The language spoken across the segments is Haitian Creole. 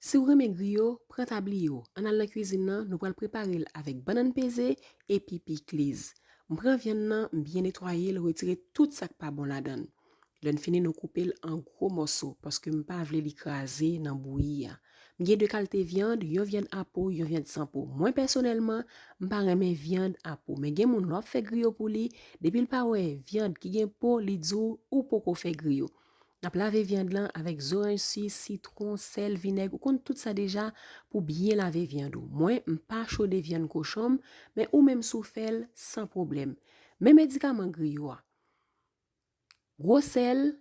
Siw renmen griyo, pran tabliyo, ann al nan kwizin nan, nou pral preparel avèk bannann peze epi pikliz. M pran vyann nan, m byen netwayel, retire tout sak pa bon ladann. Lèn fini nou koupel an gwo mòso paske m pa vle li kraze nan bouyi a. M gen 2 kalte vyand, yon vyand a po, yon vyand san po. Mwen pèsonèlman, m pa renmen vyand a po, men gen moun lè wap fè griyo pou li, depil pa wè vyand ki gen po li diw ou poko fè griyo. Nap lave viande lan avèk zoranj si, sitron, sèl, vinèg, ou konn tout sa deja pou byen lave viande ou. Mwen m pa chode viande kochon m, men ou menm sou fèl san problèm. Men medikaman griyo a. Gwo sèl,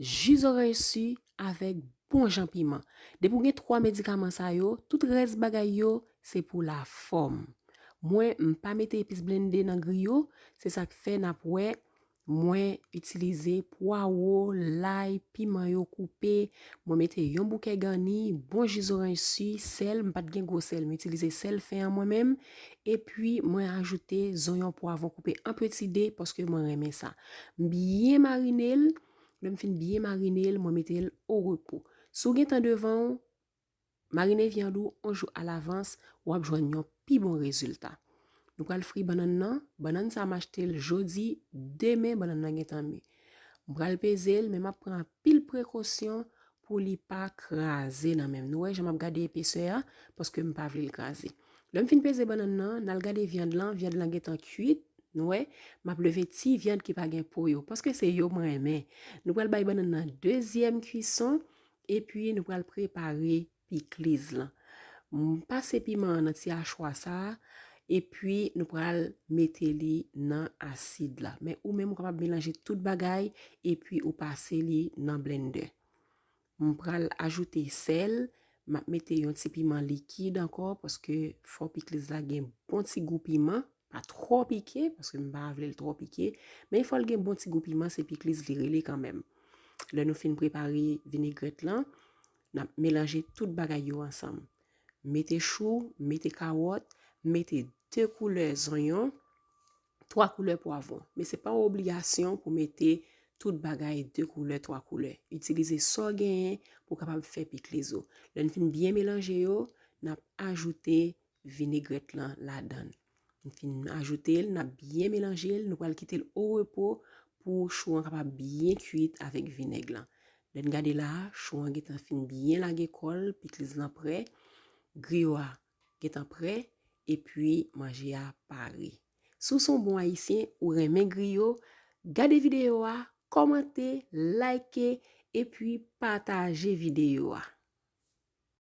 ji zoranj si avèk bon jan piman. Depi ou gen 3 medikaman sa yo, tout rès bagay yo se pou la fòm. Mwen m pa mete epis blende nan griyo, se sak fè nap wè Mwen itilize pwa wo, lay, piman yo koupe, mwen mete yon bouke gani, bon ji zoranj si, sèl, m pat gen gwo sèl, m itilize sèl fen an mwen menm, epi mwen ajoute zonyon pwavon koupe an peti de paske mwen renmen sa. M byen marine l, lè m fin byen marine l, mwen mete l orepo. Si w gen tan devan w, Marine vyann ou 1 jou alavans, w ap jwenn yon pi bon rezilta. Nou pral fri bannann nan, bannann sa m achte l jodi, demen bannann nan gentan mi. M pral peze l men m ap pran anpil prekosyon pou li pa kraze nan men m. Nou wè jan m ap gade epesè a paske m pa vle l kraze. Lè m fin peze bannann nan, n al gade vyann lan, vyann lan gentan kuit, nou wè, m ap leve ti vyann ki pa gen po yo paske se yo m renmen. Nou pral bay bannann nan dezyèm kuison, Epi nou pral prepare pikliz lan. Pase piman an nan ti achwa sa a, epi nou pral mete li nan asid la. Men ou menm ou kapab melanje tout bagay epi ou pase li nan blendè. M pral ajoute sèl, m ap mete yon ti piman likid ankò paske fò pikliz la gen bon ti gou piman. Pa twò pike, paske m pa vle l twò pike, men il fò l gen bon ti gou piman, se pikliz li rele kanmenm. Lè nou fin prepare vinegrèt lan, n ap melanje tout bagay yo ansanm. Mete chou, mete kawòt, mete 2 koulè zonyon, 3 koulè pwavwon. Men se pa yon obligasyon pou mete tout bagay 2 koulè, 3 koulè. Itilize sa w genyen pou w kapab fè pikliz ou. Lè n fin byen melanje yo, n ap ajoute Vinaigrette lan ladann. M fin ajoute l, nap byen melanje l, nou pral kite l o repo pou chou an kapab byen kuit avèk vinèg lan. Lè n gade la, chou an gentan fin byen lage kò l, pikliz lan prè, griyo a gentan prè, epi manje a pare. Si w se yon bon ayisyen, ou renmen griyo, gade videyo a, kòmante, like, epi pataje videyo a.